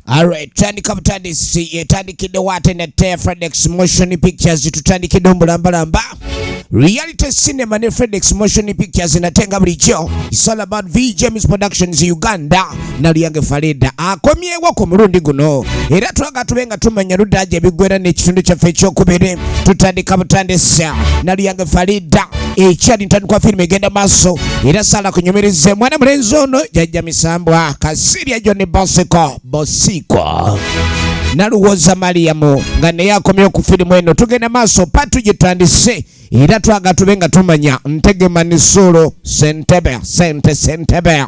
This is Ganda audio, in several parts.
Alright, tandika butandisi etandikidde waate ne Tea Fredex Motion Pictures tutandikidde omulambalamba Reality Cinema ne Fredex Motion Pictures nate nga bulijjo It's all about V James Productions Uganda naluyange falida akomyewo ku mulundi guno era twaga tube nga tumanya ludaaja ebigwera n'ekitundu kyaffe ekyokubiri tutandika butandisa naluyange falida ekyali ntandikwa firimu egenda maaso era sala kunyumirize mwana mulenzi ono jajja misambwa kasirya joni bosiko bosiko naluwoza maliyamu nga naye akomyewo ku firimu eno tugenda maaso patugitandise era twaga tube nga tumanya ntegema ne solo sentebe sente sentebe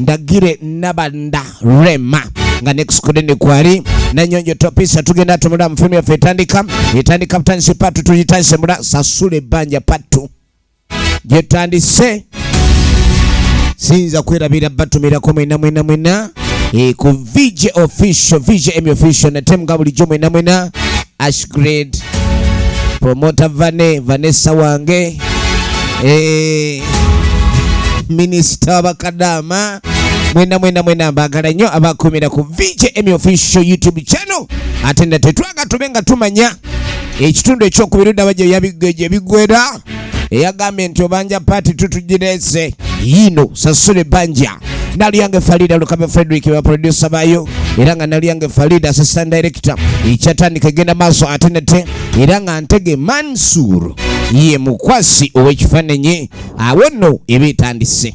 ndagire nabanda rema nga nekusikudeni kwali nanyonjo topisa tugenda tumula mufimu yaffe etandika etandika butandisi patu tuyitayise mula sasula ebbanja patu gyetandise sinza kwerabira batumirako mwena mwena mwena e, ku vj official vj emi official nate nga bulijjo mwena mwena ashgrade promota vane vanessa wange e, minisita wabakadaama mwena mwena mwena mbagala nnyo abakumira ku vj emi official youtube channel ate nate twaga tube nga tumanya ekitundu ekyokubiri daba gye yabi- gye bigwera eyagambye nti obanja paati tutugirese yiino sasula ebbanja naliyange falida lukame frederick baprodusa bayo era nga naliyange falida assistant director ekyatandika egenda maaso ate nate era nga ntege mansur ye mukwasi ow'ekifaananyi awo nno eba etandise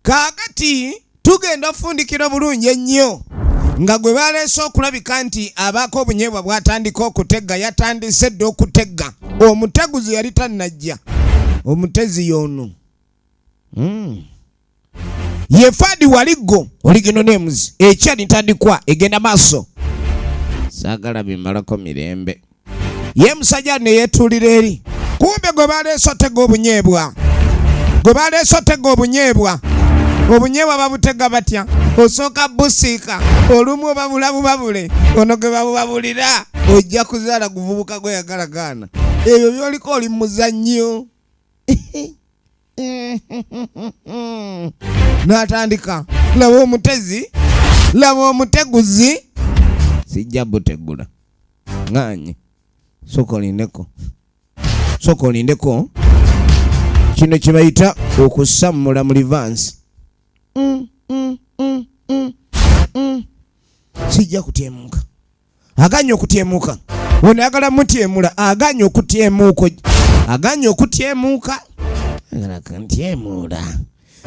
kaakati tugenda ofundikira bulungi ennyo nga gwe baleese okulabika nti abaako obunyeebwa bwatandika okutegga yatandise dda okutegga omuteguzi yali tannajja omutezi yoono mm. yefadi waligo oligino names ekya nitandikwa egenda maso sagala bimalako mirembe ye musajja neyetulira eri kumbe gwe baleese otega obunyebwa gwe baleese otega obunyebwa obunyebwa babutega batya osooka busiika olumu obabula bubabule ono gwe babubabulira ojja kuzaala guvubuka gweyagala gaana ebyo byoliko oli muzannyo natandika laba omutezi laba omuteguzi sijja butegula nganye soka olindeko soka olindeko kino kyebayita okusammula mu livansi mm, mm, mm, mm, mm. sijja kutyemuka aganye okutyemuka ono ayagala mutyemula aganye okutyemuuko aganye okutyemuuka ntyemuula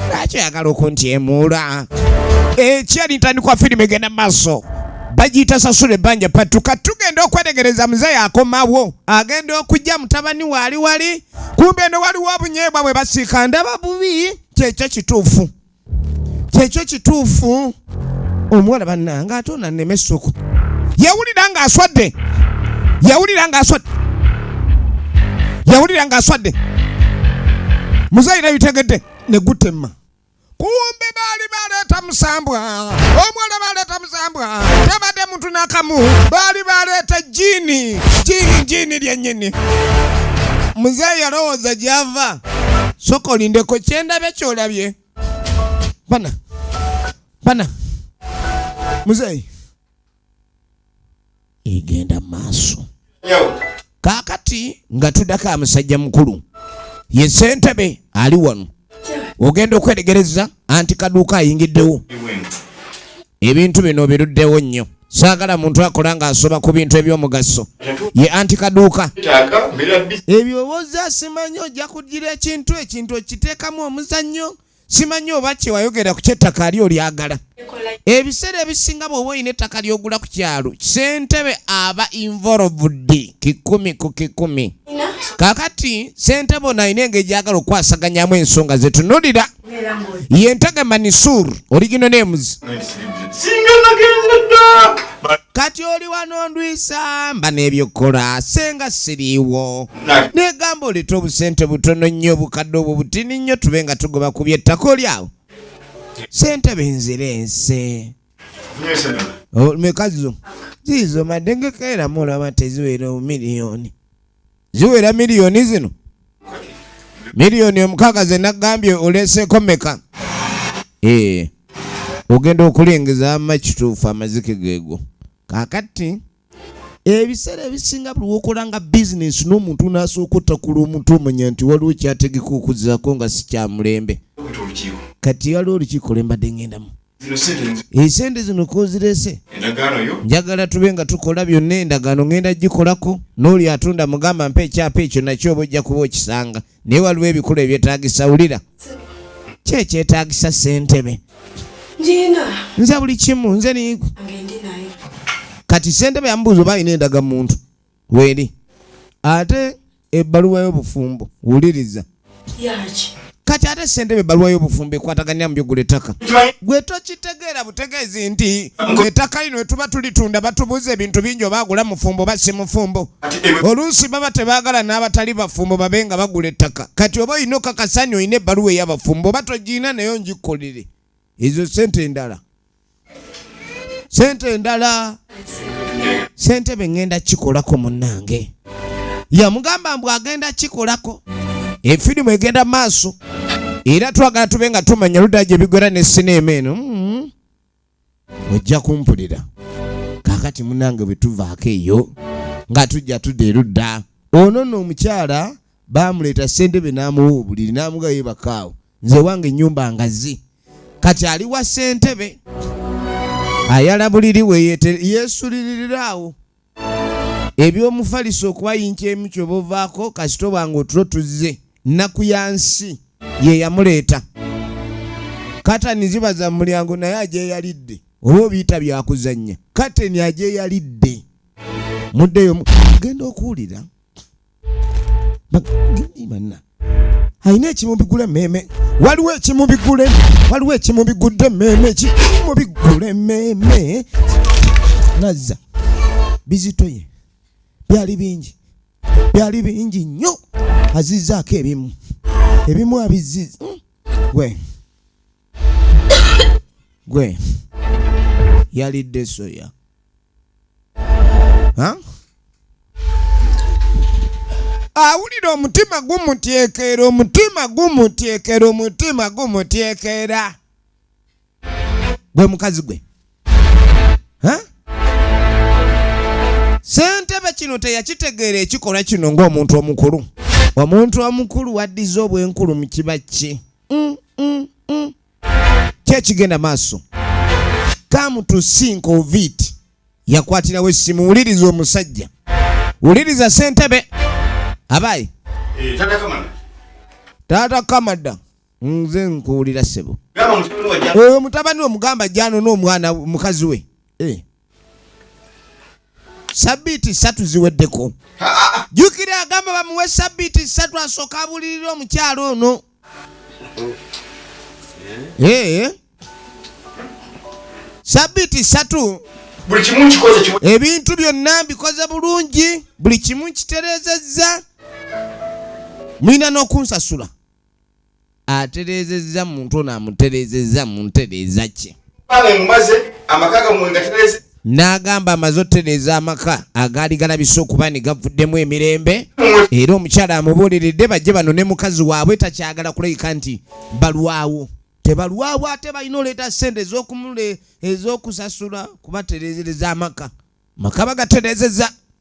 lwaki oyagala okuntyemuula ekyali ntandikwa firimu egenda maaso bagiyita sasula ebbanja patu kati tugenda okwetegereza muzeeyi akomawo agenda okujja mutabani waali wali kumbe eno waliwo obunyeebwa bwe basiika ndaba bubi kyekyo kituufu kyekyo kituufu omuwala bannange ate onanema essuku yawulira ng'aswadde yawulira ng'aswadde yawulira ng'aswadde muzayira bitegedde ne gutemma kumbe baali baleeta musambwa omuwala baleeta musambwa tabadde muntu nakamu baali baleeta jini jini jini lyenyini muzeeyi yalowooza gyava soka olindeko kyendabye kyolabye bana bana muzeeyi egenda mu maaso kaakati nga tudako amusajja mukulu ye sentebe ali wano ogenda okweregereza anti kaduuka ayingiddewo ebintu bino biruddewo nnyo saagala muntu akola ng'asoba ku bintu eby'omugaso ye anti kaduuka ebyo obozza simanyi ojja kugira ekintu ekintu okiteekamu omuzannyo simanyi oba kyewayogera ku kyettaka ali olyagala ebiseera ebisinga bw'oba olina ettaka ly'ogula ku kyalo sentebe aba involved kikumi ku kikumi kakati sentebe ono alina engeri gyagala okukwasaganyamu ensonga zetunulira yentaga manisur origino names kati oli wano ndwisa mba n'ebyokukola senga siriiwo negamba oleeta obusente butono nnyo obukadde obwo butini nnyo tube nga tugoba ku byettako lyawo sente benzira ense mekazo ziizo madengekaera mulaba teziwera omumiliyoni ziwera miliyoni zino miliyoni omukaaga ze nagambye oleeseeko meka eh, ogenda okulengeza ama kituufu amazike geego kakati ebiseera ebisinga buli wokola nga bizinensi n'omuntu n'asooka otakula omuntu omanya nti waliwo kyategeka okuzaako nga sikyamulembe kati waliwo olukiiko lwembadde ngendamu esente zino kozirese njagala tube nga tukola byonna endagaano ngenda gikolako n'oli atunda mugamba mpa ekyapa ekyo nakyo oba ojja kuba okisanga naye waliwo ebikulu ebyetagisa wulira kyekyetagisa sentebe nze buli kimu nze kati sentebe yamubuuza oba alina endaga muntu weeri ate ebbaluwa y'obufumbo wuliriza kati ate sentebe ebbaluwa y'obufumbo ekwataganira mu byogula ettaka gwe tokitegeera butegeezi nti ettaka lino etuba tulitunda batubuuza ebintu bingi oba agula mufumbo oba si mufumbo oluusi baba tebaagala n'abatali bafumbo babe nga bagula ettaka kati oba olina okakasani olina ebbaluwa ey'abafumbo oba togiina naye ongikolere ezo sente endala sente endala sente bengenda kikolako munange yamugamba mbu agenda kikolako efirimu egenda maaso era twagala tube nga tumanya luda gye bigwera ne sineema eno mm-hmm. ojja kumpulira kakati munange bwetuvaako eyo nga tujja tudda erudda ono no omukyala baamuleeta ssentebe n'amuwa obuliri n'amuga yebakaawo nze wange ennyumba ngazi kati ali wa ssentebe ayala buliri we yeesuliriraawo eby'omufaliso okubayinca emu kyoba ovaako kasita obanga otulo tuzze nnaku ya nsi ye yamuleeta katani ziba za mulyango naye agyeyalidde oba obiyita byakuzannya kateni agyeyalidde muddeyo genda okuwulira banna alina ekimubigula emmeeme waliwo ekimubigula waliwo ekimubigudde emmeeme ekimubigula emmeeme nazza bizitoye byali bingi byali bingi nnyo azizzaako ebimu ebimu abizziza hmm. gwe gwe yalidde soya awulira omutima gumutyekera omutima gumutyekera omutima gumutyekera gwe mukazi gwe sentebe kino teyakitegeera ekikolwa kino ng'omuntu omukulu omuntu omukulu waddiza obwenkulu mu kiba kye mm, mm, mm. kyekigenda maaso come to think of it yakwatirawo essimu wuliriza omusajja wuliriza sentebe abayi eh, taata kamada nze nkuwulira sebo oyo mutabani omugamba janona omwana mukazi we eh. sabbiiti ssatu ziweddeko jjukira agamba bamuwe sabbiiti ssatu asooka abulirira omukyalo ono eh. sabbiiti ssatu ebintu byonna mbikoze bulungi buli kimu nkitereezezza mulina n'okunsasula atereezezza muntu ono amutereezezza mu ntereeza kye n'agamba amaze otereeza amaka agaali galabisa okuba ne gavuddemu emirembe era omukyala amubuuliridde bajje bano ne mukazi waabwe takyagala kulabika nti balwawo tebalwawo ate balina oleeta ssente ez'okumule ez'okusasula kubatereezereza amaka maka bagatereezeza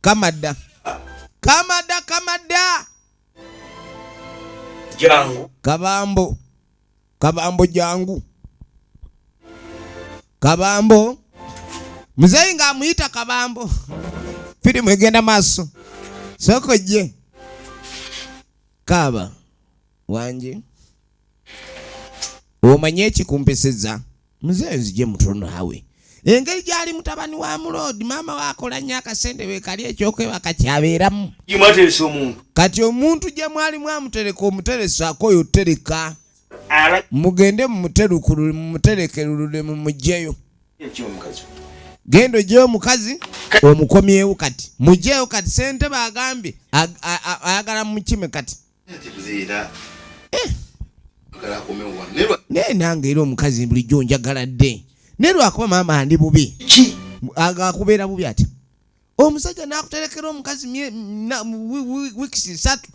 kamada kamada kamada jangu kabambo kabambo jangu kabambo muzeyi nga amuyita kabambo firimu egenda maaso soko je kaaba wanje omanye ekikumpisiza mzee nzije mutulo naawe engeri gyali mutabani wa muloodi maama we akola nnyo akasente wekali ekyokwebaka kyabeeramu imateresa omuntu kati omuntu gye mwali mwamutereka omuteresako oyo tereka mugende mumuterukulule mumuterekerulule mumugyeyo genda ogyeyo omukazi omukomyewo kati mugyeyo kati sente bagambye ayagala mukime kati naye nange era omukazi bulijjo njagala dde naye lwakuba maama ndi bubi akubeera bubi ati omusajja nakuterekera omukazi wiks satu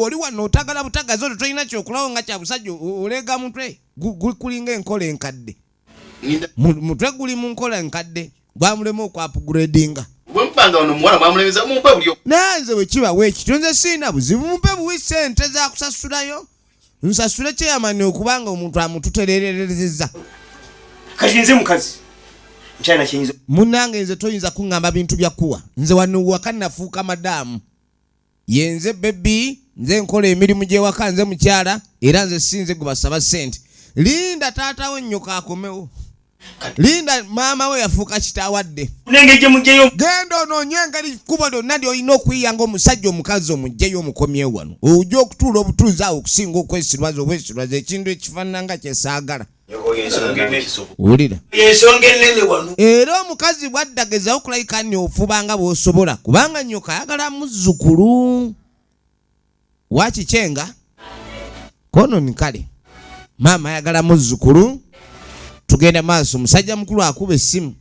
oli wano otagala butagazi oto tolina kyokulawo nga kyabusajja olega mutwe gukulinga enkola enkadde mutwe guli mu nkola enkadde gwamulema okwapugredinga nanze bwekiba wekityo nze siina buzibu mumpe buwi sente zakusasulayo nsasule kyeyamani okubanga omuntu amututerererezeza kati nze mukazi nkyalina kiyinza munange nze toyinza kuŋŋamba bintu bya kuwa nze wano waka nafuuka madaamu yenze bebi nze nkola emirimu gyewaka nze mukyala era nze sinze gwebasaba sente linda taata we nnyoko akomewo linda maama we yafuuka kitaawadde genda onoonye engeri kkubo lyonna lyolina okuyiya nga omusajja omukazi omugjeyo omukomyewo wano ojja okutuula obutuuzi awo okusinga okwesirwaza obwesirwaza ekintu ekifaanana nga kyesaagala era omukazi bwaddageza okulayika nyo ofuba nga bwosobola kubanga nyoka ayagala muzzukulu wakikyenga kononi kale maama ayagala muzzukulu tugenda maaso omusajja mukulu akuba essimu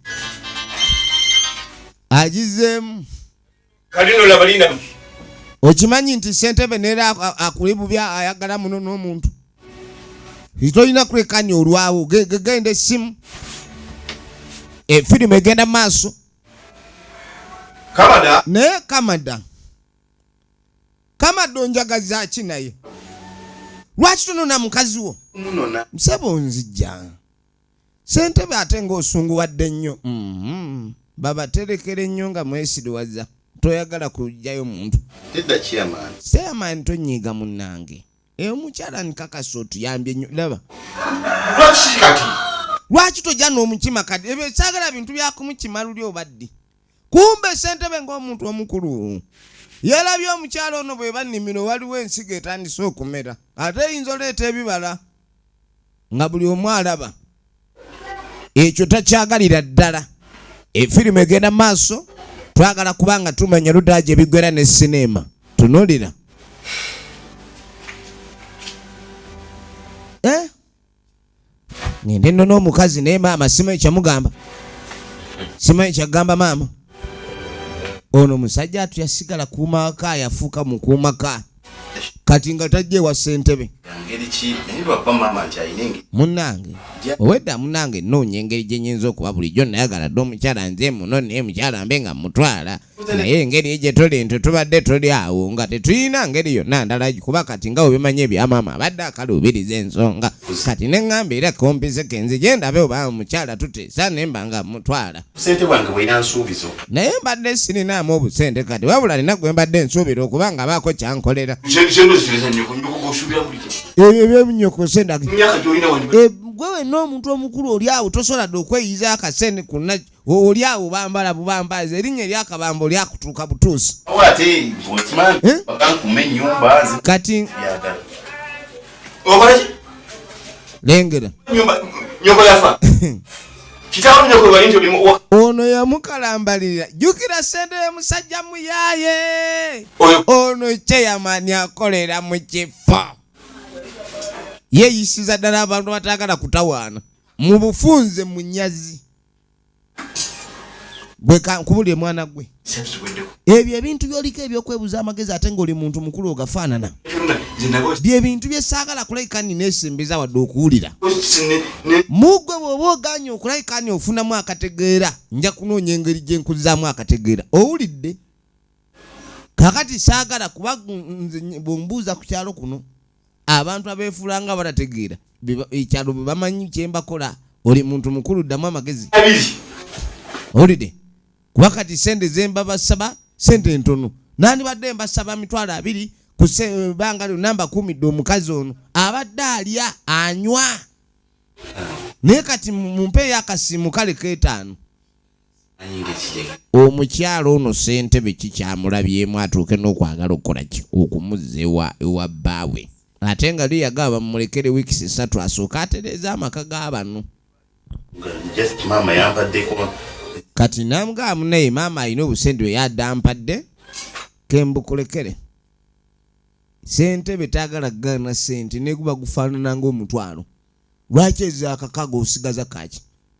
agizeemu kalino laba lina okimanyi nti sentebe neera akuli bubi ayagala muno n'omuntu tolina kwekanya olwawo genda essimu efirimu eh, egenda maaso kamada naye kamada kamada onjagaza ki naye lwaki tonona mukazi wo musaba onzijja sentebe ate ngaosunguwadde nnyo mm-hmm. babaterekera ennyo nga mwesiriwaza toyagala kujjayo muntu seamani tonyiiga munange eyo mukyala nkakasa otuyambye nnyo laba lwaki tojja n'omukima kati ebyo kyagala bintu byakumukima luli obaddi kumbe sentebe ngaomuntu omukulu yalabye omukyalo ono bwe banimiro waliwo ensigo etandise okumera ate eyinza oleeta ebibala nga buli omu alaba ekyo takyagalira ddala efirimu egenda maaso twagala kuba nga tumanya ludaa gye bigwera ne sineema tunulira eh? ngende no n'omukazi naye maama simanyi kyamugamba simanyi kyagamba maama ono musajja atu yasigala kuumawaka yafuuka mukuumaka kati nga tajja ewa ssentebe munnange owedda munnange nnoonya engeri gye nyinza okuba bulijjo nayagala dde omukyala nze muno naye mukyala mbe nga mutwala naye engeri egye tuli nti tubadde tuli awo nga tetulina ngeri yonna ndala kuba kati nga webimanyi ebyamaama abadde akaluubiriza ensonga kati ne ŋŋamba era kompiseke nze gye ndabe oba omukyala tuteesa ne mba nga mutwala sente wange bweyina nsuubizo naye mbadde sirinaamu obusente kati wabula nina gwe mbadde nsuubira okuba nga baako kyankolera ebyo byemunyokose ndag eh, gwe wenna omuntu omukulu oli awo tosobola dde okweyiza akasente kuna oli awo bambala bubambazi erinnya eryakabamba oli akutuuka butuusi eh? kati okolaki lengera nyoko yafa kitabu nyoko bali nti obimu ono yamukalambalira jukira sente ya musajja muyaye ono chairman akolera mu kifo yeyisiza ddala abantu batagala kutawaana mu bufunze munyazi kubulire mwana gwe ebyo ebintu byoliko ebyokwebuza amagezi ate ngaoli muntu mukulu ogafaanana byebintu byesaagala kulabika nina esembeza wadde okuwulira mugwe bwoba oganye okulabika ni ofunamu akategeera nja kunoonya engeri gyenkuzaamu akategeera owulidde kakati saagala kuba bwembuuza ku kyalo kuno abantu abeefuula nga abatategeera ekyalo bwe bamanyi kye mbakola oli muntu mukulu ddamu amagezi owulidde kuba kati sente ze mbabasaba sente ntono nandibadde mbasaba mitwalo abiri kubanga eh, lyonna mbakuumidde omukazi ono abadde alya anywa naye kati mumpeeyo akasiimu kale keetaano omukyala ono ssentebe kikyamulabyemu atuuke n'okwagala okukola ki okumuzza ewa ewa bbaawe ate nga liyaga abamulekere wiikis esatu asooke atereeza amaka ga bano kati namugaamu naye maama alina obusente bwe yadampadde kembukulekere sentebe tayagala kugana sente neguba gufaanana ngaomutwalo lwaki ezaakakaga osigaza kaki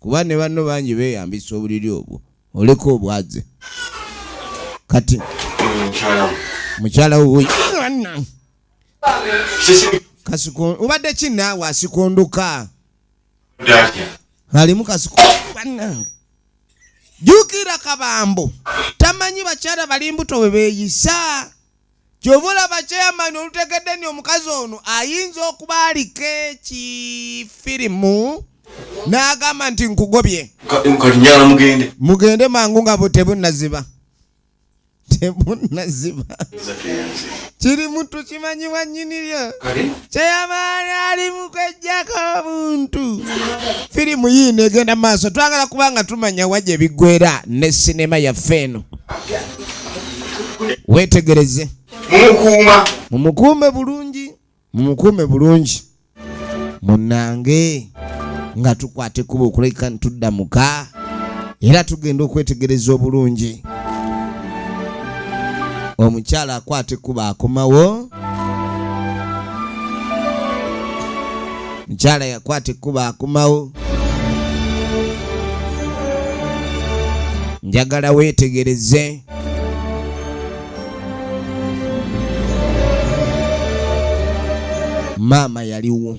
kuba ne banno bangi beeyambisa obuliri obwo oleka obwaze kati mukyala wuyi kasiko obadde ki naawe asikondoka alimu kasiko banange jukira kabambo tamanyi bakyala bali mbuto bwe beeyisa Kyova olaba chairman olutegedde ni omukazi ono ayinza okuba aliko ekifirimu nagamba nti nkugobye nkalinyala mugende mugende mangu nga tebunaziba tebunaziba kiri mutu kimanyi wanyiniryo kyeyamaali ali mukwejjako omuntu firimu yiino egenda maaso twagala kubanga tumanya wa gye biggwera ne sinema yaffe eno weetegereze mumukuuma mumukuume bulungi mumukuume bulungi munange nga tukwata ekkuba okulabika ntudda muka era tugenda okwetegereza obulungi omukyala akwata ekkuba akomawo mukyala yakwata ekkuba akumawo njagala weetegereze maama yaliwo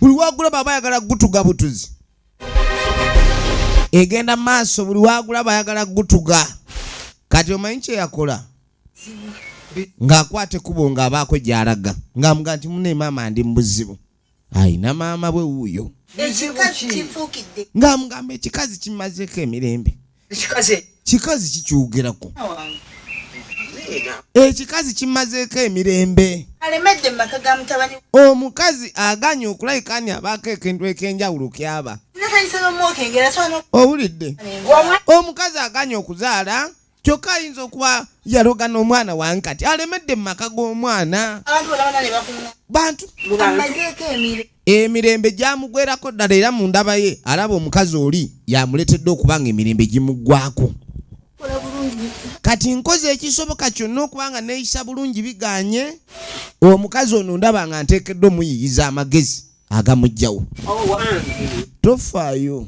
buli wagulaba aba ayagala gutuga butuzi egenda maaso buli wagulaba ayagala gutuga kati omanyi kyeyakola ng'akwata ekkubo ng'abaako gy'alaga ng'amuga nti mune maama ndi mubuzibu ayina maama bwe wuuyo ng'amugamba ekikazi kimazeeko emirembe kikazi kikyogerako ekikazi kimazeeko emirembe omukazi aganye okulabika ani abaako ekintu ekyenjawulo kyaba owulidde omukazi aganye okuzaala kyokka ayinza okuba yaloga n'omwana wange kati alemedde mu maka g'omwana bantu Emirembe gyamugwerako ddala era mu ndaba ye alaba omukazi oli yamuleetedde okuba nga emirembe gimuggwako kati nkoze ekisoboka kyonna okuba nga neeyisa bulungi biganye omukazi ono ndaba nga nteekedde omuyiyiza amagezi agamugjawo tofaayo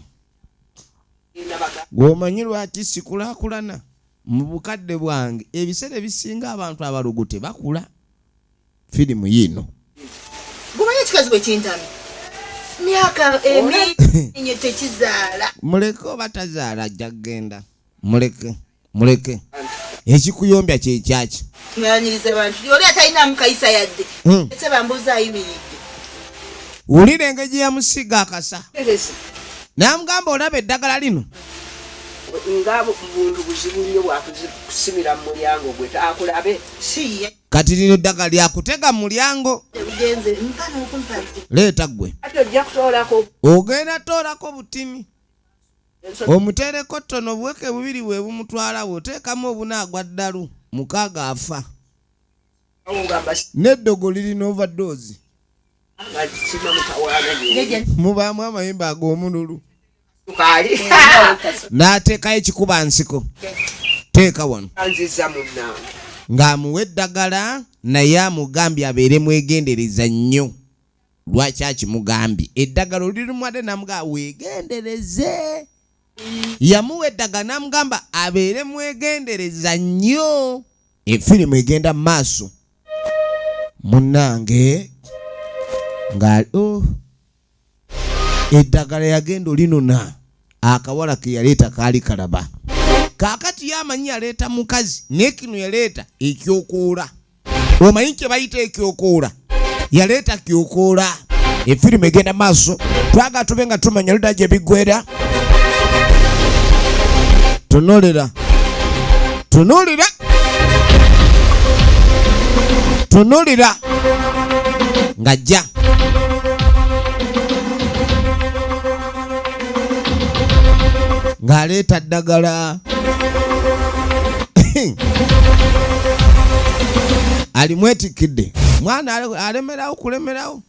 gweomanyi lwaki sikulakulana mu bukadde bwange ebiseera ebisinga abantu abalogo tebakula firimu yiino gumanyi ekikazi bwe kintami myaka eminye tekizaala muleke oba tazaala ajja kugenda muleke muleke ekikuyombya kyekyaki nganyiriza bantu oli atalinamu kayisa yadde hmm. ese bambuuza ayimiridde wulira engeri gyeyamusiiga akasa namugamba olaba eddagala lino nga buntu buzibu nnyo bwakusimira mu mulyango gwe akulabe si ye kati lino ddagala lyakutega mu mulyango leeta ggwe ogenda toolako butimi omuteereko ttono obuweke bubiri bwe bumutwalawo oteekamu obunaagwa ddalu mukaaga afa n'eddogo liri n'overdoozi mubaamu amayembe ag'omululu n'ateekayo ekikuba nsiko teeka wano ng'amuwa eddagala naye amugambye abeere mwegendereza nnyo lwaki akimugambye eddagala olirimuwadde namuga wegendereze yamuwa eddagala namugamba abeere mwegendereza nnyo efirimu egenda mu maaso munange nga oh. eddagala yagenda olinona akawala ke yaleeta kaali kalaba kaakati ye amanyi yaleeta mukazi naye kino yaleeta ekyokoola omanyi kye bayita ekyokoola yaleeta kyokoola efirimu egenda maaso twaga tube nga tumanya luda gye biggwera tunulira tunulira tunulira ngajja ng'aleeta ddagala alimwetikkidde mwana alemerawo kulemerawo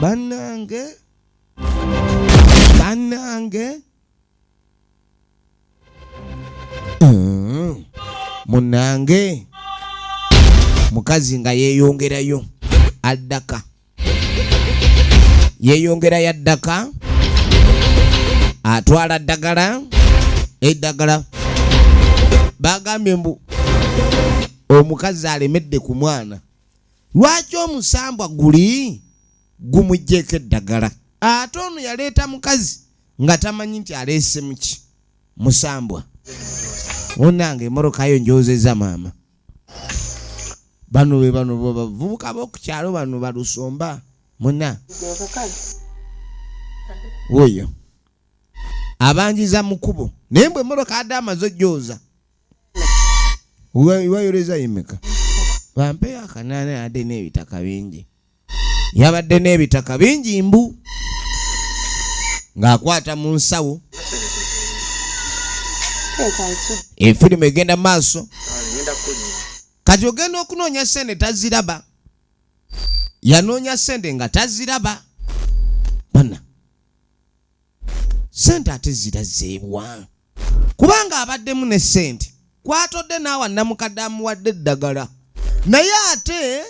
bannange bannange mm. munange mukazi nga yeyongerayo addaka yeyongerayo addaka atwala ddagala eddagala bagambye mbu omukazi alemedde ku mwana lwaki omusambwa guli gumugyeko eddagala ate ono yaleeta mukazi nga tamanyi nti aleesemuki musambwa onange emorokayo njozeza maama bano be bano bavubuka bokukyalo bano balusomba muna oyo abanjiza mukubo naye mbwe emoroka ade amaze ojooza wayoleza yemeka bampeyo akanaana yadde n'ebitaka bingi yabadde n'ebitaka bingi mbu ng'akwata mu nsawo efirimu egenda maaso kati ogenda okunoonya sente taziraba yanoonya sente nga taziraba sente ate zira zeebwa kubanga abaddemu ne sente kwatodde naawa namukadde amuwadde eddagala naye ate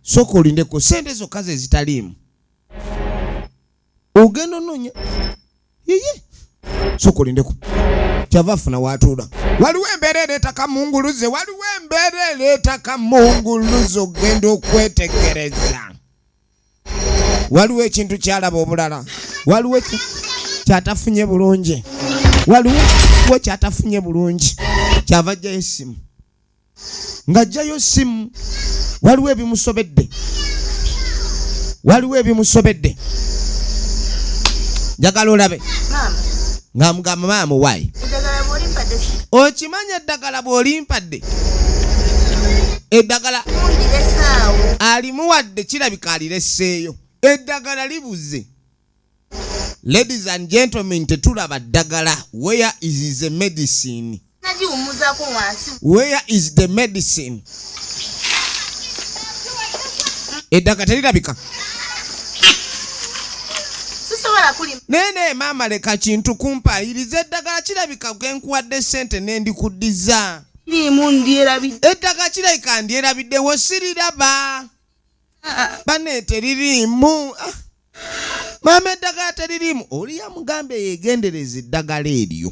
soka olindeko sente zokka ze zitaliimu ogenda ononya yeye soka olindeko kyava afuna watuula waliwo embeera ereeta kamunguluze waliwo embeera ereeta kamunguluze ogenda okwetegereza waliwo ekintu kyalaba obulala waliwo kyatafunye bulungi waliwo we kyatafunye bulungi kyava ajjayo essimu ng'ajjayo essimu waliwo ebimusobedde waliwo ebimusobedde njagala olabe nga mugamba maama muwayi okimanyi eddagala bwolimpadde eddagala alimuwadde kirabika alireseeyo eddagala libuze ladies and gentlemen tetulaba ddagala where is the medicine Where is the medicine? Eddagala terirabika. naye naye maama leka kintu kumpaayiriza eddagala kirabika genkuwadde sente nendikuddiza eddagala kirabika ndyerabiddewo siriraba ah, ah. bane teririimu ah. maama eddagala teririimu oli yamugambye yegendereza eddagala eryo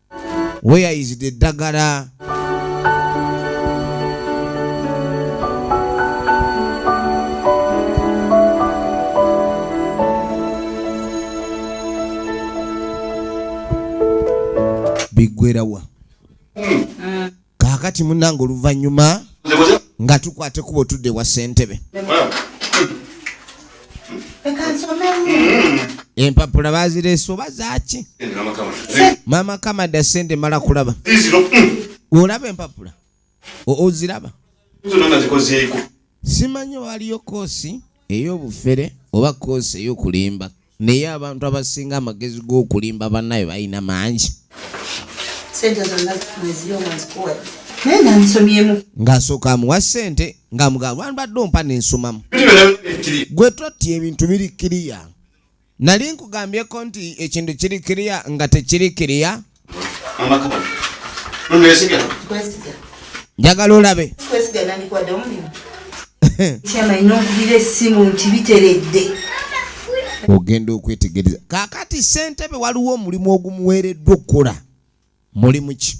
where is the dagala bigwerawa kaakati munange oluvannyuma nga tukwata ekubo tudde wa ssentebe empapula bazireese oba zaaki maama kamada sente mala kulaba olaba empapula oziraba Simanyi waaliyo kkoosi ey'obufere oba kkoosi ey'okulimba, naye abantu abasinga amagezi g'okulimba bannaabwe balina mangi. Ng'asooka amuwa ssente ng'amugamba wandibadde ompa ne nsomamu. Gwe totti ebintu biri kiriya. Nali nkugambyeko nti ekintu kiri kiriya nga tekiri kiriya. Njagala olabe. Ogenda okwetegereza. Kaakati ssentebe waliwo omulimu ogumuweereddwa okukola. Mulimu ki?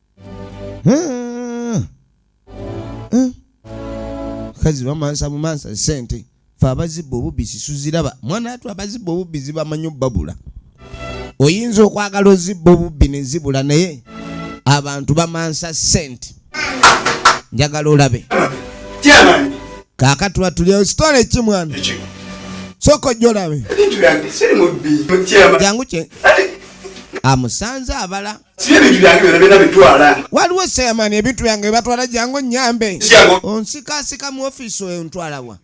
kazi bamansa bumansa sente fe abazibba obubbi sisuziraba mwana atu abazibba obubbi zibamanyi obbabula oyinza okwagala ozibba obubbi nezibula naye abantu bamansa sente njagala olabe kakatula tulyawo sitole ki mwana soka ojja olabe jangu kye amusanze abala waliwo seyamani ebintu byange webatwala jangu nyambe onsikasika mu ofisi oyo ntwalawa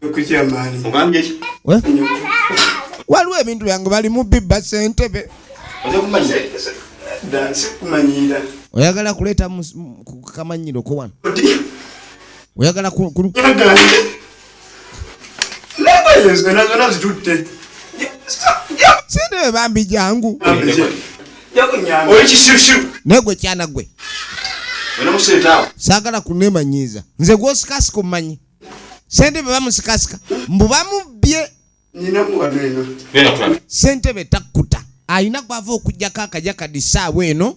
waliwo ebintu byange bali mu bibba sentebe oyagala kuleeta kamanyiro ko wano oyagala bambi jangu negwe kyana gwe sagala kunemanyiiza nze gwosikasika omumanyi sente bwe bamusikasika mbu bamubbye sentebe takkuta alina gwava okujjako akaja kadisaawa eno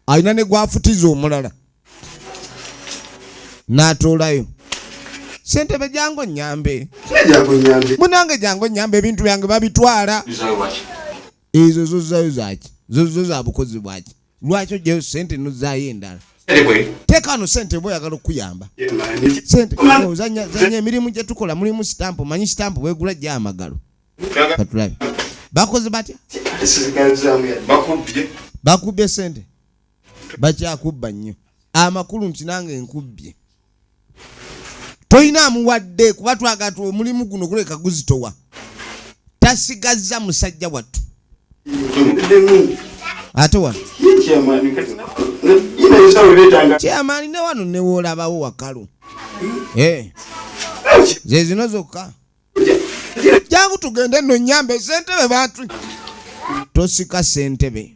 alina ne gwafutiza omulala n'atuulayo sentebe jangu nyambe munange jangu nyambe ebintu byange babitwala ezo zozayo zaki zozo za bukozi bwaki lwaki ojayo sente nozayo endala tekano sente oba oyagala okuyamba sente zanya emirimu gyetukola mulimu sitampu manyi sitampu bwegula gya amagalo katulabe bakoze batya bakubbye sente bakyakubba nnyo amakulu nti nange nkubbye tolina amuwadde kuba twagatu omulimu guno guleka guzitowa tasigazza musajja wattu ate wano kyamaani ne wano newoolabawo wakalu eh. zezino zokka jangu tugende nonyambe sentebe bantu tosika sentebe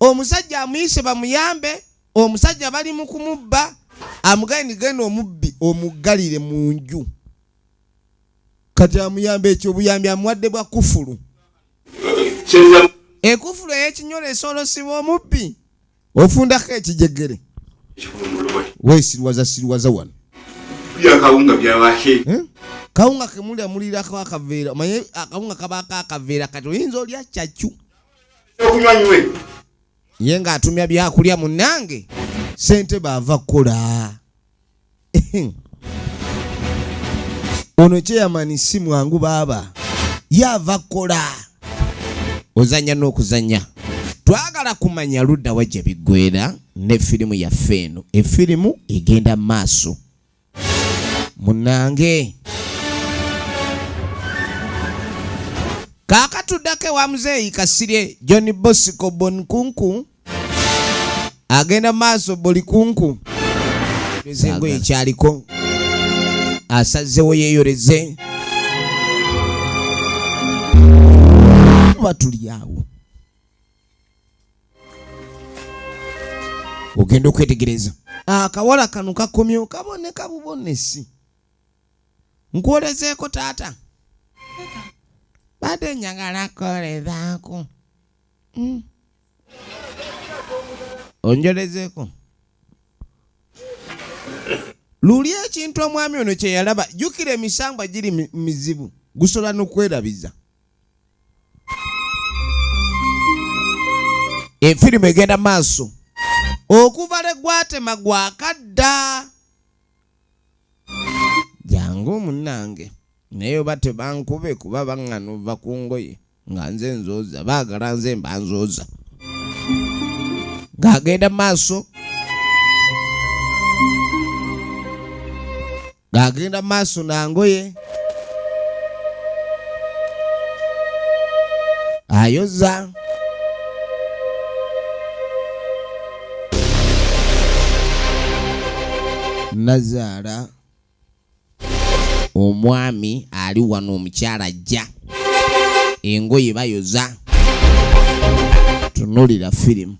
omusajja amuyise bamuyambe omusajja bali mu kumubba amugaye nigenda omubbi omuggalire mu nju kati amuyamba ekyo obuyambi amuwadde bwa kufulu ekufulu eyekinyolo esolosibwa omubbi ofundako ekijegere wesirwaza sirwaza wano eh? kawunga kemulya mulirako akaveera omanye akawunga kabako akaveera kati oyinza olya kyakyu okunywa nywe ye ng'atumya byakulya munnange sente baava kukola ono kyeyamani si mwangu baaba yaava kukola ozanya n'okuzanya twagala kumanya ludda wajja biggwera ne firimu yaffe eno efirimu egenda maaso munange kakatuddako ewa muzeeyi kasirye john bosco bonkunku agenda maaso buli kunku ezengo ekyaliko asazewo yeyoleze batulyawo ogenda okwetegereza akawala ah, kano kakomyewo kaboneka bubonesi nkwolezeeko taata bade njagala kolezaako hmm. onjolezeeko luli ekintu omwami ono kyeyalaba jukira emisambwa giri mizibu gusobola nokwerabiza efirimu egenda maaso okuva lwe gwatema gwakadda jangu munange naye oba tebankube kuba baŋŋana ova ku ngoye nga nze nzooza baagala nze mba nzooza ng'agenda maaso ng'agenda mu maaso na ngoye ayoza nazaala omwami ali wano omukyala ajja engoye bayoza tunulira firimu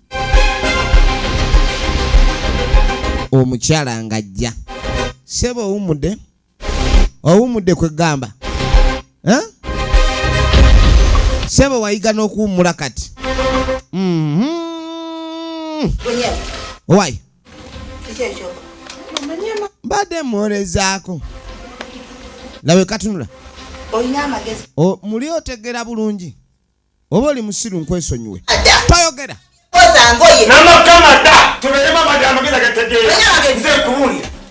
omukyala ng'ajja seba owumudde owumudde kwegamba seba wayiga n'okuwummula kati mm-hmm. wayi mbadde mwolezaako lawe katunula muli otegera bulungi oba oli musiru nkwesonyiwe toyogera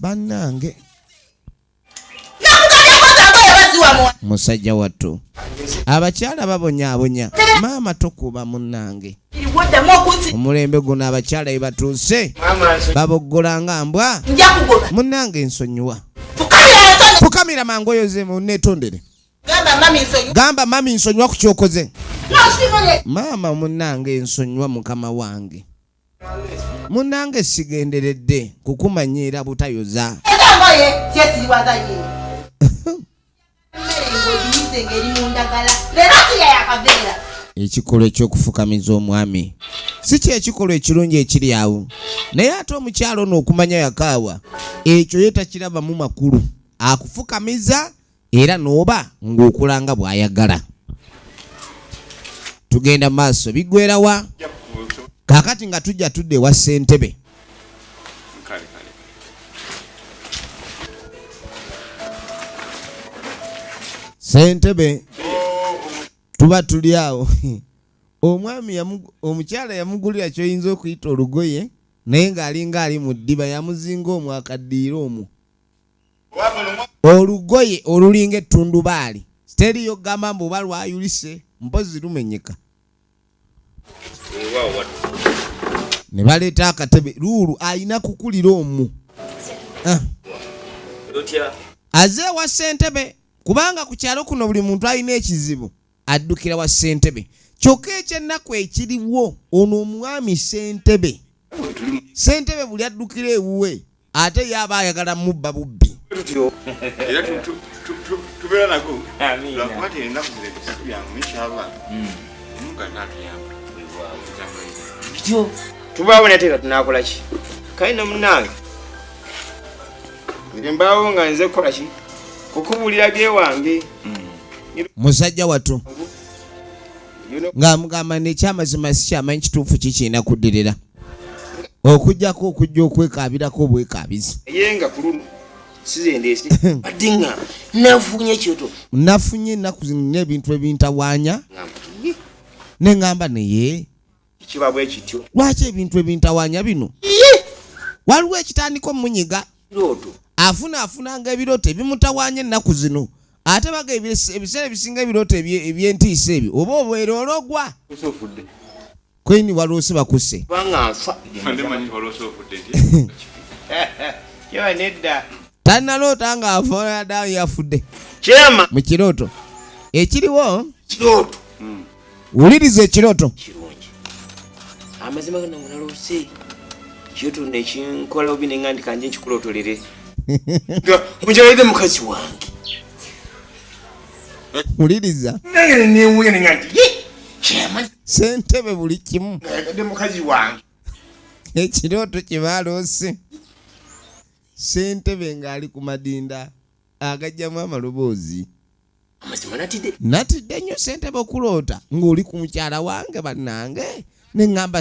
banange musajja wattu abakyala babonyabonya maama tokuba munange omulembe guno abakyala ebatuuse baboggola nga mbwa munange nsonyiwa fukamira mangu oyozemu netondere gamba mami nsonyiwa ku kyokoze maama munange nsonyiwa mukama wange munange sigenderedde kukumanyiira butayoza ekikolwa ekyokufukamiza omwami si kyekikolwa ekirungi ekiri awo naye ate omukyalo ono okumanya yakaawa ekyo ye takirabamu makulu akufukamiza era n'oba ng'okula nga bw'ayagala tugenda maaso bigwerawa kakati nga tujja tudde ewa ssentebe sentebe tuba tuli awo omwami omukyala yamugulira kyoyinza okuyita olugoye naye ng'alinga ali mu ddiba yamuzinga omwakaddiira omwo olugoye olulinga ettundubaali teriyo gamba mbu oba lwayulise mpozi lumenyeka ne baleeta akatebe luulu alina kukulira omu ah. aze ewa ssentebe kubanga ku kyalo kuno buli muntu alina ekizibu addukira wa ssentebe kyokka ekyennaku ekiriwo ono omwami ssentebe ssentebe buli addukira ewuwe ate ye aba ayagala mubba bubbi tubaawo nate nga tunakolaki kale na munange nze mbaawo nga nze kukolaki kukubuulira gewange mm. musajja watu ng'amugamba nekyamazima sikyamanyi kituufu kikiina kuddirira okujjako okujja okwekaabirako obwekaabizi nafunye ennaku zino n'ebintu ebintawaanya ne ŋŋamba naye kiba bwe kityo lwaki ebintu ebintawanya bino waliwo ekitandika omunyiga afuna afunanga ebirooto ebimutawanya ennaku zino ate baga ebiseera ebisinga ebirooto ebyentiisa ebyo oba obwere ologwa kweni waloose bakuse tanaloota nga afaada yafudde mukirooto ekiriwo wuliriza ekirooto kirungi amazima gana munaloose kirooto nekinkola obi nenga ndi kanje nkikulotolere omukyalaide mukazi wange wuliriza naye newuya nenga nti sentebe buli kimu ayagade mukazi wange ekirooto kyebaloose sentebe ng'ali ku madinda agajjamu amaloboozi amazima natidde natidde nnyo ssentebe okuloota ng'oli ku mukyala wange bannange ne ŋŋamba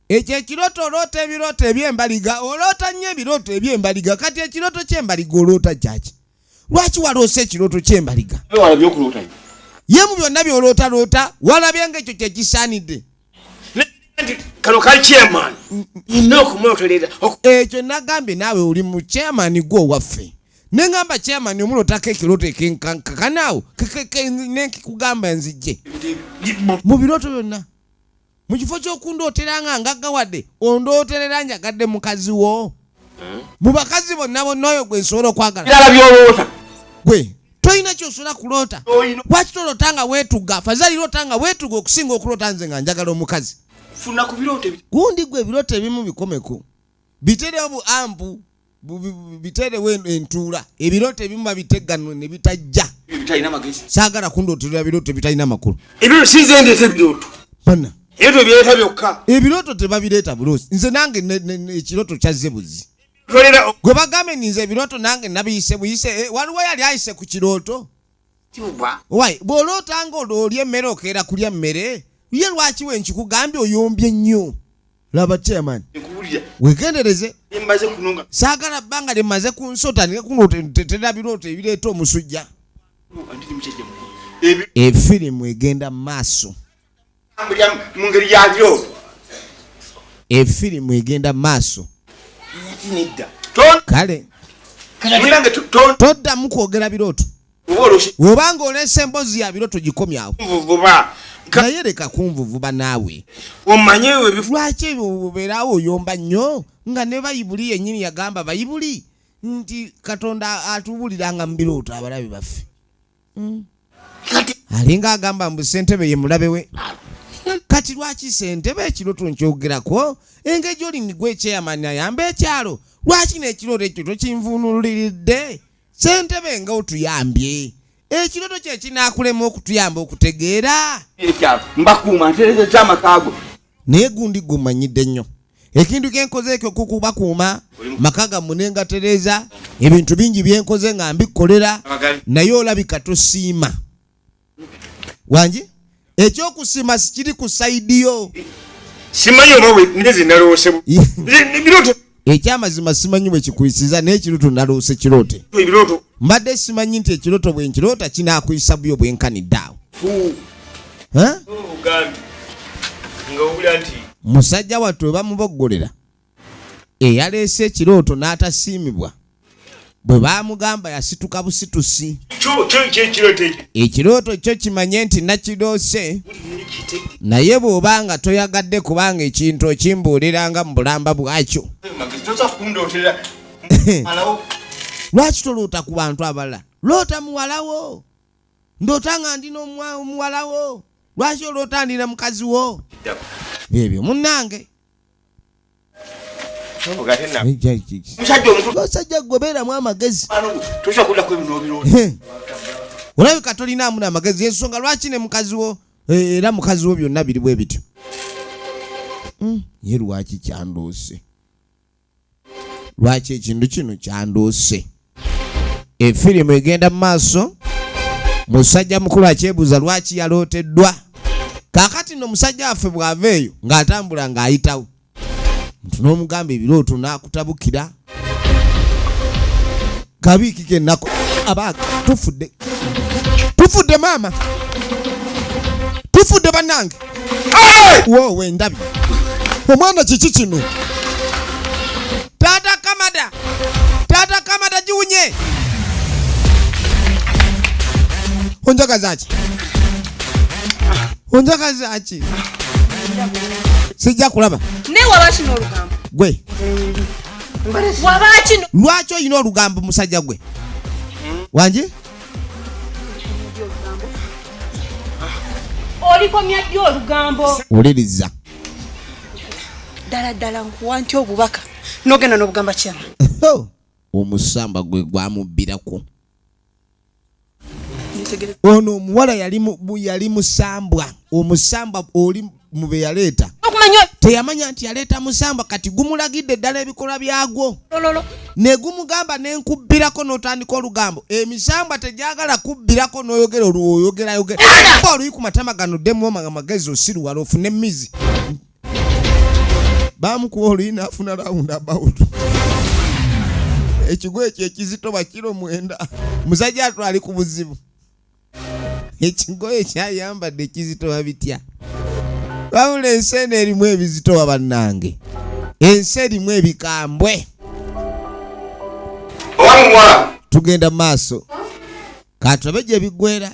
ekyo ekirooto oloota ebirooto eby'embaliga oloota nnyo ebirooto eby'embaliga kati ekirooto ky'embaliga oloota kyaki lwaki waloosa ekirooto ky'embaliga ye mu byonna by'olootaloota walabye ng'ekyo kye kisaanidde kano kali chairman nina okumwotolerera ekyo nagambye naawe oli mu chairman gwe owaffe nengamba chairman omulotako ekiroto ekenkankakanaawo nenkikugamba nzijje mu biroto byonna mu kifo ky'okundooteranga ngaggawadde ondooterera njagadde mukazi wo hmm? mu bakazi bonna bonna oyo gwe nsobola okwagala birala byolowooza gwe tolina kyosobola kuloota lwaki toloota nga weetuga fazali loota nga weetuga okusinga okuloota nze nga njagala omukazi funa ku birooto gundi gwe ebirooto ebimu bikomeko biterewo bu ampu biterewo entuula ebirooto ebimu babitegganwe ne bitajja saagala kundooterera birooto ebitalina makulu ebirooto sinze ndeeta ebirooto bana ebyo byeta byokka ebiroto tebabireeta bulosi nze nange ekiroto kyazze buzi gwe bagambe ninze ebiroto nange nabiyise buyise eh, waliwo yali ayise ku kirooto wy bwoloota nga olya emmere okeera kulya mmere ye lwaki we nkikugambye oyombye nnyo laba chairman wegendereze saagala bbanga lyemaze ku nsota naye kuno tetera birooto ebireeta omusujja efirimu egenda mu maaso mu ngeri yalyo efirimu egenda maaso kale toddamu kwogera birooto oba nga oleesa emboozi ya birooto gikomyawo naye leka kunvuvuba naawe lwaki ebyo obeerawo oyomba nnyo nga ne bayibuli yennyini yagamba bayibuli nti katonda atuwuliranga mu birooto abalabe baffe mm. alinga agamba mbu sentebe ye mulabe we kati lwaki sentebe ekiro tunkyogerako engeri gyoli nigwe ekyeyamani ayamba ekyalo lwaki nekiroto ekyo tokinvunuliridde sentebe nga otuyambye ekiroto kyekinakulema okutuyamba okutegeera mbakuuma ntereza ekyamakago naye gundi gumanyidde nnyo ekintu kyenkoze ekyo kukubakuuma maka gammwe ne ngatereeza ebintu bingi byenkoze nga mbikolera naye olabika tosiima wangi ekyokusiima sikiri ku saidi yo simanyi oba nze nalowosebubiroto ekyamazima simanyi bwe kikuyisiza naye ekiroto naloose kirote mbadde simanyi nti ekiroto bwe nkiroota kinakuyisa buyo bwenkanidde awo musajja wattu webamuboggolera eyaleese ekirooto n'atasiimibwa bwe baamugamba yasituka busitusi ekirooto kyo kimanye nti nakiroose naye bw'oba nga toyagadde kubanga ekintu okimbuuliranga mu bulamba bwakyo lwaki toloota ku bantu abalala loota muwalawo ndoota nga ndi n'omuwalawo lwaki oloota ndi na mukazi wo byebyo munnange musajja gwe beeramu amagezi olabika tolinaamu namagezi ensonga lwaki ne mukazi wo eh, era mukazi wo byonna biri bwe bityo hmm, ye lwaki kyandoose lwaki ekintu kino kyanduuse efirimu egenda mu maaso musajja mukulu akyebuuza lwaki yalooteddwa kakati no musajja waffe bw'ava eyo ng'atambula ng'ayitawo nti n'omugamba ebirooto n'akutabukira kabiiki kenako abaga tufudde tufudde maama tufudde banange wowe ndabi omwana kiki kino tata kamada tata kamada jiwunye onjaga zaki onjaga zaki sijja kulaba naye waba kino olugambo gwe lwaki olina olugambo musajja gwe wangi olikomya ddi olugambo wuliriza ddala ddala nkuwa nti obubaka nogenda nobugamba kyama omusamba gwe gwamubbirako ono omuwala yali musambwa omusambwa oli mube yaleeta teyamanya nti yaleeta musambwa kati gumulagidde eddala ebikolwa byagwo ne gumugamba ne nkubbirako n'otandika olugambo emisambwa tegyagala kubbirako n'oyogera olwoyogerayogera oluyi ku matama gano ddemu amagezi osiruwala ofune mizi bamukuba oluyi nafuna round about ekigo ekyo ekizito bakiro mwenda musajja atu ali ku buzibu ekigoye kyayambadde ekizitowa bitya wabula ensi eno erimu ebizitowa bannange ensi erimu ebikambwe tugenda mu maaso katulabe gye biggwera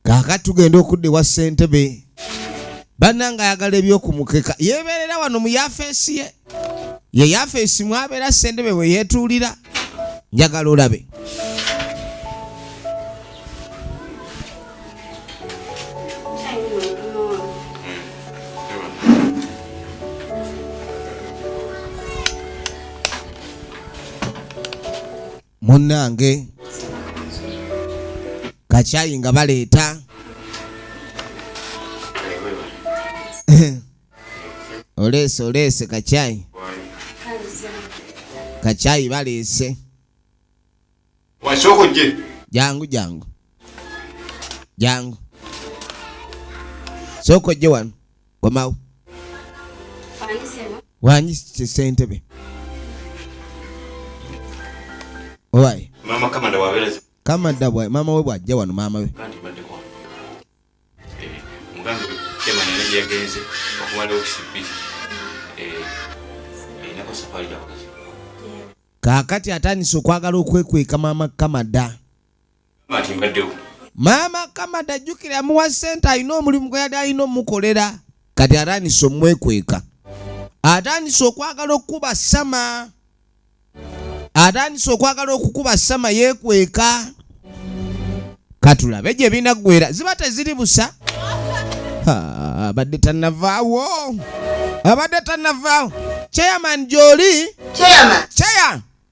kaakati tugenda okudda ewa ssentebe bannanga ayagala ebyokumukeka yeebeerera wano mu yafeesi ye ye yafeesi mwabeera ssentebe bwe yeetuulira njagala olabe munnange kakyayi nga baleeta oleese oleese kakyayi kakyayi baleese jangu jangu jangu sooka ojje wano komawo wanyi sentebe owaye kamada bwa mama we bwajja wano mama we kakati atandise okwagala okwekweka mama kamada maama kamada jjukira amuwa sente alina omulimu gwe yali alina omukolera kati atandise omwekweka atandise okwagala okukuba sama atandise okwagala okukuba sama yekweka katulabe gye binaggwera ziba teziri busa abadde tanavaawo abadde tanavaawo chairman gyoli chairman chair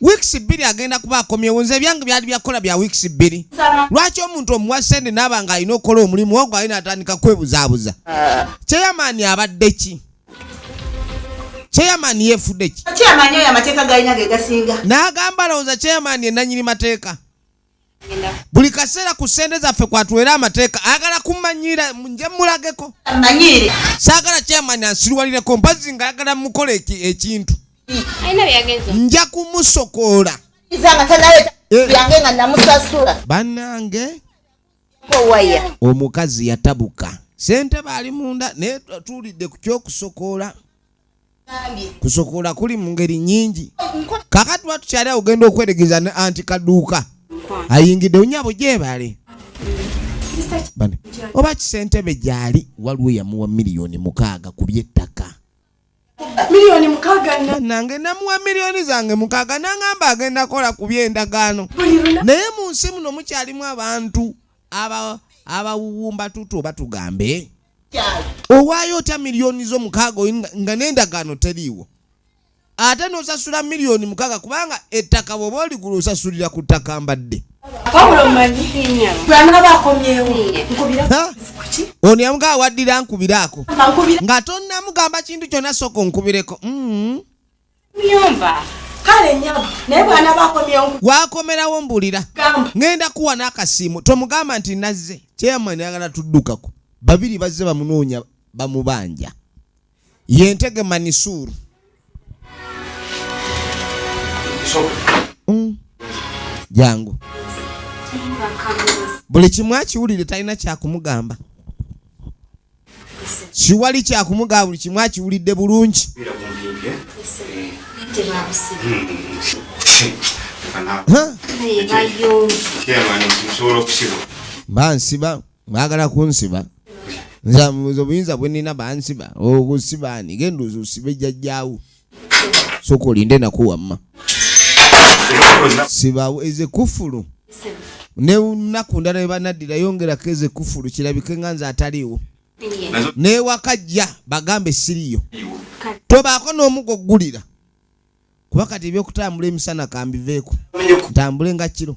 wiikisi bbiri agenda kuba akomyewo nze ebyange byali byakukola bya wiikisi bbiri lwaki omuntu omuwa sente naaba nga alina okukola omulimu ogwo alina atandika kwebuzaabuza kyeyamaani ah. abadde ki chairman yefudde ki chairman oyo amateeka galina ge gasinga n'agamba lowooza chairman ye nanyini mateeka buli kaseera ku ssente zaffe kwatuweera amateeka ayagala kumanyira nje mulageko saagala kyamanya nsiriwalireko mpazzi nga ayagala mukola ekintu nja kumusokoola eh. banange omukazi yatabuka sente baali munda naye tuwulidde ku kyokusokoola kusokola kuli mu ngeri nyingi kakati tuba tukyali awo ogenda okweregeza ne anti kaduuka ayingidde onyabo gyebale oba kisentebe gyali waliwo yamuwa miliyoni mukaaga ku byettaka miliyoni mukaaga nange namuwa miliyoni zange mukaaga nangamba agenda kola ku byendagaano naye mu nsi muno mukyalimu abantu abawuwumba tutu oba tugambe owaayo otya miliyoni zo mukaaga nga n'endagaano teriiwo ate n'osasula miliyoni mukaaga kubanga ettaka bwoba oligula osasulira ku ttaka mbadde ono yamugaa waddira nkubiraako nga tonnamugamba kintu kyonna sooka onkubireko mm. wakomerawo mbulira ŋenda kuwa n'akasiimu tomugamba nti nazze chairman ayagala tuddukako babiri bazze bamunoonya bamubanja yentege manisuuru mm. jangu buli kimu akiwulire talina kyakumugamba siwali kyakumugaa buli kimu akiwulidde bulungi bansiba bagala kunsiba nze obuyinza bwenina bansiba okusiba ani genda ozusibe jajjaawo soka olinde naku wamma sibawo eze kufulu nenaku ndala webanaddira yongerako eze kufulu kirabike nga nze ataliiwo newakajja bagambe siriyo tobaako n'omugo ggulira kuba kati ebyokutambula emisana kambiveeko ntambule nga kiro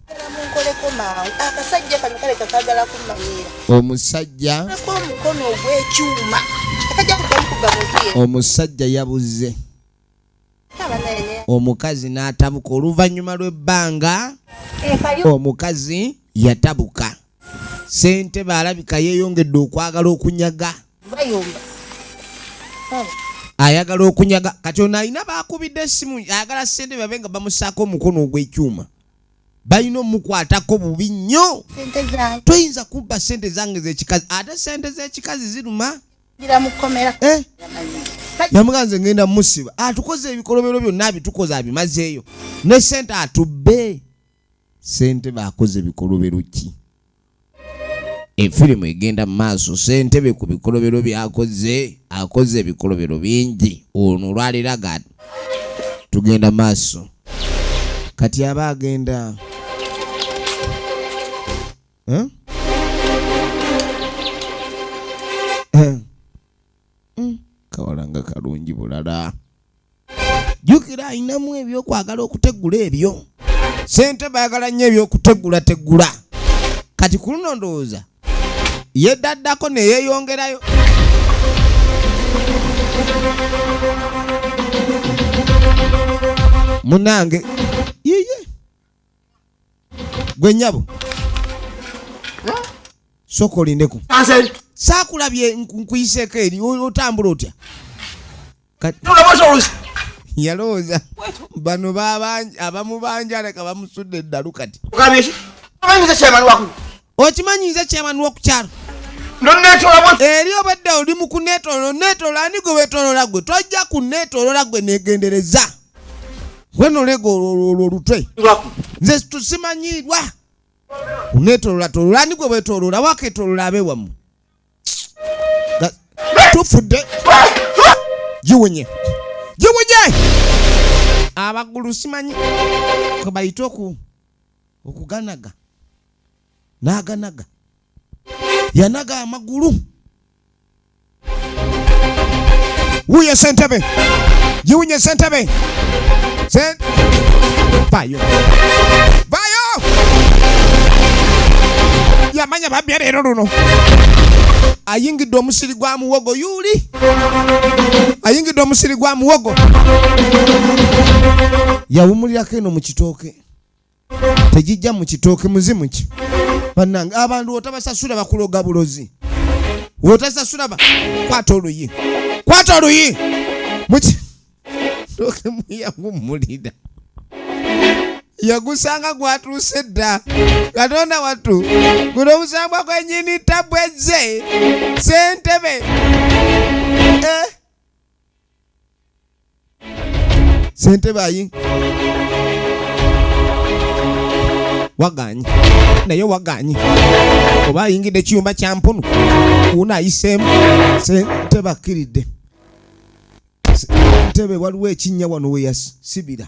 omusajja omusajja yabuze omukazi n'atabuka oluvannyuma lw'ebbanga omukazi yatabuka ssentebe alabika yeeyongedde okwagala okunyaga ayagala okunyaga kati ono alina baakubidde essimu ayagala ssentebe babe nga bamusaako omukono ogw'ekyuma balina omukwatako bubi nnyo toyinza kubba sente zange zekikazi ate sente zekikazi ziruma eh? yamuga nze ngenda musiba atukoze ebikolobero byonna abitukoze abimazeeyo ne sente atubbe sente bakoze bikolobero ki efirimu egenda mu maaso sentebe ku bikolobero byakoze akoze ebikolobero bingi ono olwaliraga tugenda maaso kati aba agenda eh? mm, kawala nga kalungi bulala jukira alinamu ebyokwagala okutegula ebyo sente bayagala nnyo ebyokutegula tegula kati ku luno ndowooza yeddaddako neyeyongerayo munange gwe nyabo soka olindeko sakulabye nkuyiseeko eri otambula otya yalowooza bano abamubanjala kabamusudde eddalu kati okimanyi nze chairman wokukyalo eri obadde oli mu kunetololo netololo ani gwe wetolola gwe tojja kunetolola gwe negendereza wenolega olwo olutwe nze tusimanyiirwa unetolola tolola ani gwe wetolola waketolola abe wamu tufudde giwunye giwunye abagulu simanyi kwebayita oku okuganaga n'aganaga yanaga amagulu wuye sentebe giwunye sentebe vayo vayo yamanya babya leero luno ayingidde omusiri gwa muwogo yuli ayingidde omusiri gwa muwogo yawumulirako eno mu kitooke tegijja mu kitooke muzimu ki bannange abantu otabasasula bakuloga bulozi otasasula kwata oluyi kwata oluyi muki toke muyagumulira yagusanga gwatuuse dda katonda wattu guno omusambwa gwenyini tabwezze sentebe eh? sente bayi waganyi naye waganyi oba ayingidde ekiyumba kya mpunu uuna ayiseemu sente bakkiridde ntebe waliwo ekinnya wano weyasibira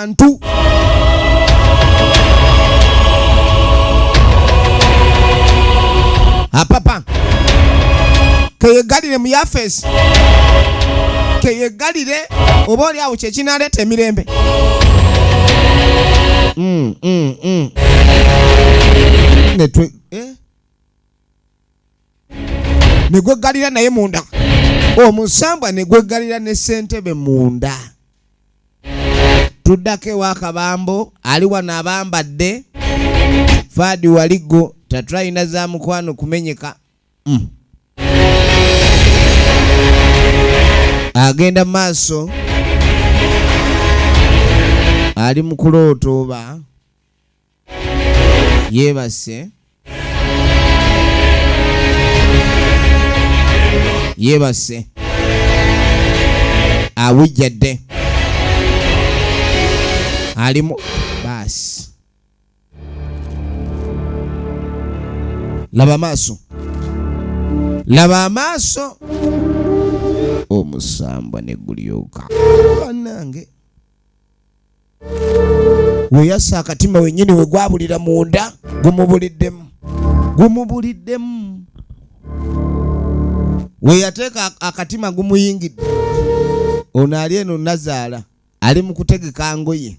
bantu apapa keyegalire mu yafeesi keyegalire oba oli awo kyekinaleeta emirembe mm, mm, mm. ne gweggalira naye munda omusambwa ne gweggalira ne ssentebe munda tuddako ewa kabambo ali wano abambadde faadi waligo tatulina za mukwano kumenyeka mm. agenda maaso ali mu kulooto oba yeebase yeebase abujjadde alimu baasi laba amaaso laba amaaso omusambwa ne gulyoka banange weyasa akatima wenyini wegwabulira munda gumubuliddemu gumubuliddemu weyateeka akatima gumuyingidde ono ali eno nazaala ali mu kutegeka ngoye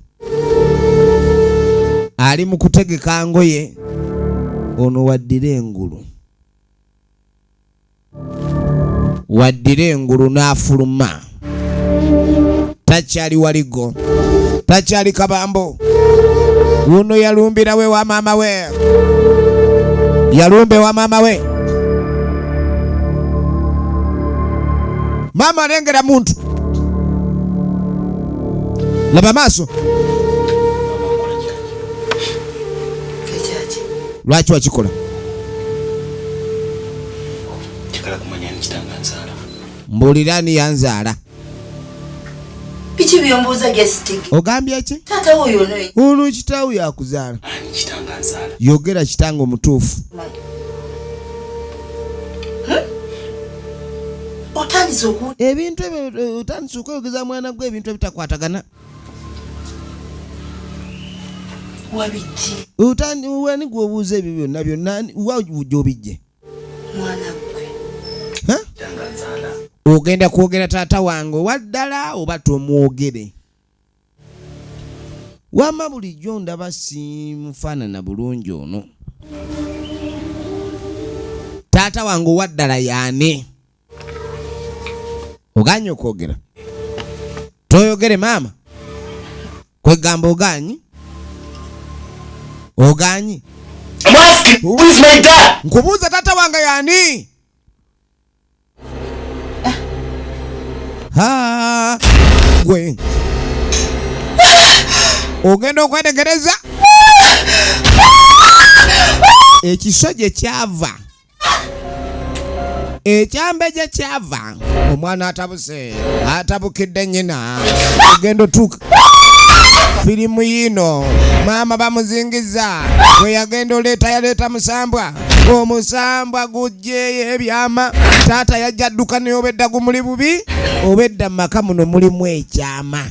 ali mu kutegeka ngoye ono waddira engulu waddira engulu n'afuluma takyali waligo takyali kabambo wuno yalumbira we wa maama we yalumbe wa maama we maama alengera muntu laba maaso lwaki wakikola njagala kumanya ani kitange anzaala mbuulira ani yanzaala biki byombuuza gesitiki ogambye ki taata woyo noyo ono kitaawo yakuzaala ani kitange anzaala yogera kitange omutuufu otandise oku ebintu ebyo eh, otandise okweyogeza mwana gwe ebintu ebitakwatagana wani gwobuuza ebyo byonna byonna wa gyobijje ogenda kwogera taata wange owaddala oba tomwogere wama bulijjo ndaba simufaanana bulungi ono taata wange owaddala yaani oganye okwogera toyogere maama kwegamba oganyi oganyi nkubuuza tata wange yani ah. gwe ogenda okwetegereza ekiso gye kyava ekyambe gye kyava omwana atabuse atabukidde nyina ogenda otuuka firimu yiino maama bamuzingiza bwe yagenda oleeta yaleeta musambwa omusambwa gujjeeyo ebyama taata yajja dduka naye obedda gumuli bubi obedda mu maka muno mulimu ekyama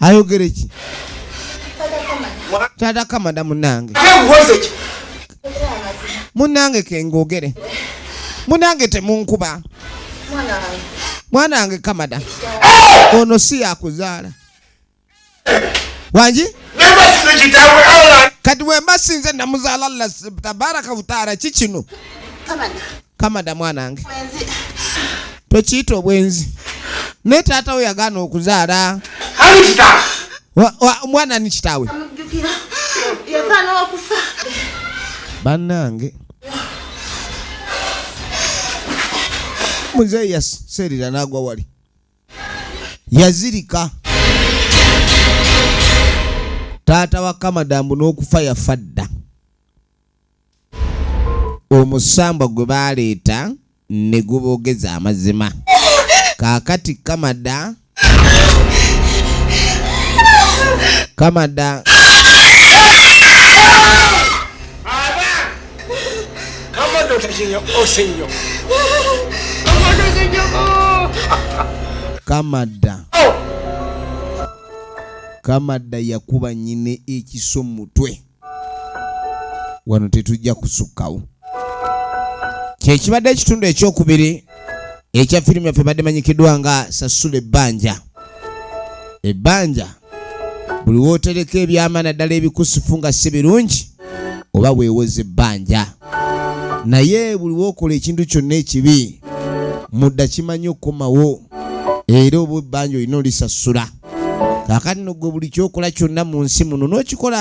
ayogere ki tata kamada munange munange kengogere munange temunkuba mwana wange kamada ono si yakuzaala wangi kati wemba sinze namuzaala allah tabaraka wutaala kikino kamada mwanange tokiyita obwenzi naye taata we yagaana okuzaala omwana ni kitaawe bannange muzeeyi yaseerera n'agwa wali yazirika taata wa kamadamu n'okufa yafa dda omusambwa gwe baaleeta ne guboogeza amazima kaakati kamada kamada kamada kamada yakuba nyine ekiso mutwe wano tetujja kusukkawo kyekibadde ekitundu ekyokubiri ekya firimu yaffe badde manyikiddwa nga sasula ebbanja ebbanja buli wootereka ebyama naddala ebikusifu nga si birungi oba weewoza ebbanja naye buli wookola ekintu kyonna ekibi mudda kimanyi okukomawo era oba ebbanja olina olisasula kaakati no gwe buli kyokola kyonna mu nsi muno n'okikola